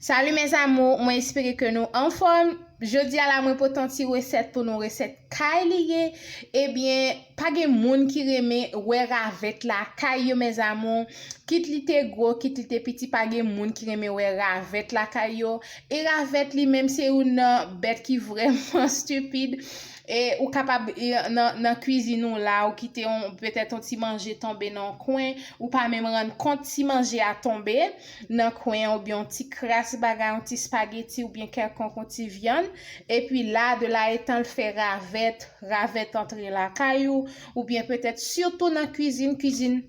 Salut mes amours mwen espere ke nou anfòm jodia la mwen pote yon ti resèt pou nou resèt kay li ye ebyen pa gen moun ki renmen wè ravèt la kay yo mes amours kit li te gro kit li te piti pa gen moun ki renmen wè ravèt la kay yo e ravèt li menm se youn nan bèt ki vrèman stupid e ou kapab nan kwizin ou la ou kite yon petèt yon ti manje tonbe nan yon kwen ou pa menm rann kont ti manje a tonbe. nan kwen an oubyen yon ti kras bagay, yon ti spageti oubyen kèlkonk yon ti vyann, epi la de la etan l fè ravèt, ravèt antre lakay ou, oubyen petèt sitou nan kuizin, kuizin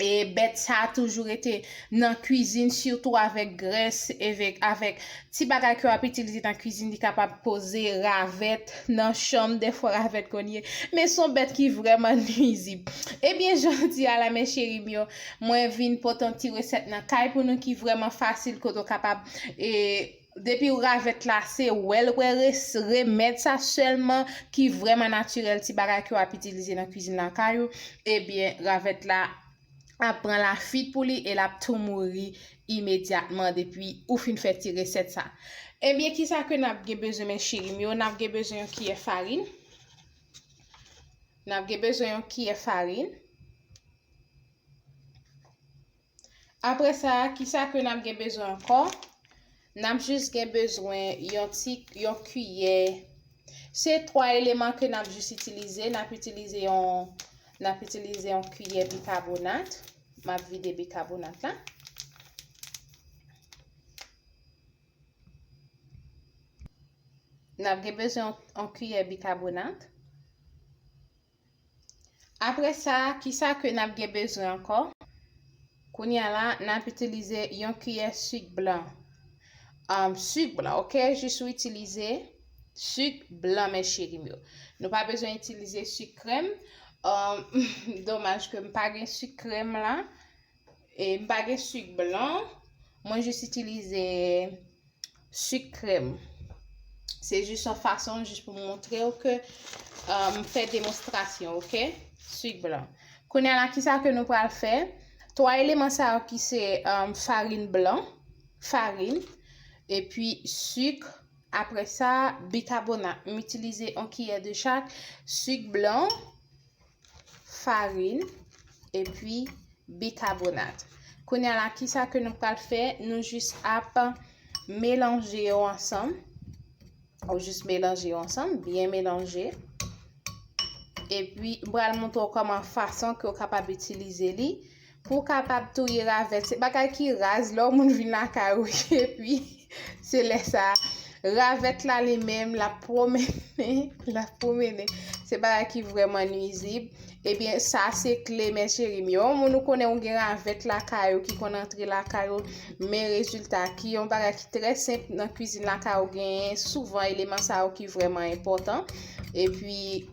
e bèt sa a toujou rete nan kuizin sitou avèk grès evek avèk ti bagay ke w ap itilize nan kuizin li kapab koze ravèt nan chanm dèfwa ravèt konn ye men s on bèt ki vrèman nuizib ebyen jodi a la mes cheri m yo Mwen vin pote yon ti resèt nan kay pou nou ki vrèman fasil kote ou kapab e depi ou ravèt la se wèl wè res remèd sa sèlman ki vrèman natirèl ti bagay ke w ap itilize nan kwizin lakay ou ebyen ravèt la ap pran lafit pou li e l ap tou mouri imedyatman depi ou fin fè ti resèt sa ebyen kisa ke n ap gen bezwen men cheri m yo n ap gen bezwen yon kiyè farin n ap gen bezwen yon kiyè farin. Apre sa, ki sa ke n ap gen bezwen ankò? N ap jis gen bezwen yon ti, yon kiyè. Se twa eleman ke n ap jis itilize. N ap itilize yon, n ap itilize yon kiyè bikabonat. M ap vide bikabonat la. N ap gen bezwen yon kiyè bikabonat. Apre sa, ki sa ke n ap gen bezwen ankò? Kounye a la, n ap itilize yon kiyè sik blan. Sik blan, ok? Jis ou itilize sik blan, mes cheri m yo. Nou pa bezwen itilize sik krèm. Domaj ke m pa gen sik krèm la. E m pa gen suk blan, mwen jis itilize suk krèm. Se jis yon fason jis pou montre ou ke m fè demonstrasyon, ok? Suk blan. Kounye la ki sa ke nou pral fè? 3 eleman sa yo ki se farin blan, farin, epi suk, apre sa bikabonat. M itilize yon kiyè de chak suk blan. farin, epi bikabonat. Kounya la, ki sa ke nou pral fè? Nou jis ap melanje yo ansanm. Ou jis melanje yo ansanm, byen melanje. Epi, m pral montre w kòman fason ke w kapab itilize li. Pou w kapab touye ravèt, se bagay ki raz lè yon moun vin lakay ou epi se lè sa ravèt la li menm l ap pwomennen, l ap pwomennen. Se bagay ki vrèman nwizib. Ebyen, sa se kle men cheri m yo. Yon moun ou konnen ou gen ravèt lakay ou ki konn antre lakay ou, men rezilta ki yon bagay ki trè senp nan kwizin lakay ou genyen souvan eleman sa yo ki vrèman enpòtan. Epi.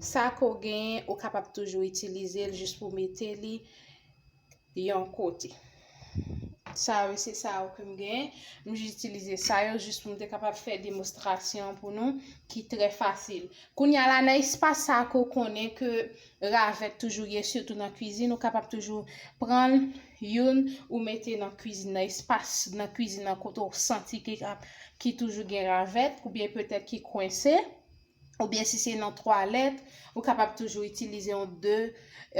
Sa ke w genyen ou kapab toujou itilize l jis pou w mete li yon kote. Sa yo se sa yo ke m genyen. M jis itilize sa yo jis pou m te kapab fè demonstrasyon pou nou ki trè fasil. Kounya la nan espas sa ke w konnen ke ravèt toujou ye sitou nan kwizin ou kapab toujou pran youn ou mete nan kwizin nan espas nan kwizin nan kote w santi ki toujou gen ravèt oubyen petèt ki kwense. oubyen si se nan twalèt, ou kapab toujou itilize yon de,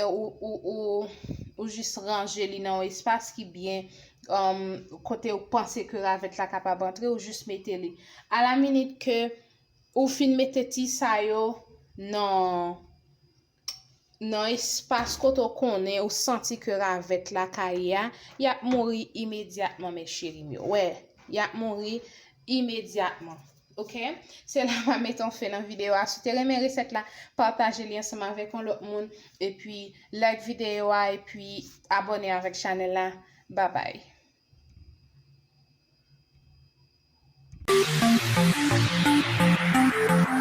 ou jis ranje li nan yon espas ki byen, kote ou panse ke ravèt la kapab antre, ou jis mete li. A la minit ke ou fin mete ti sa yo nan. nan espas kote w konnen ou santi ke ravèt la ka ye a, y ap mouri imedyatman mes cherim yo. Wè, y ap mouri imedyatman. Ok? Se la mwen mete yon fen nan videyo a. Si w te renmen resèt la, pataje li ansanm avèk yon lòt moun. Epi, like videyo a epi abòne avèk chanèl la. Babay!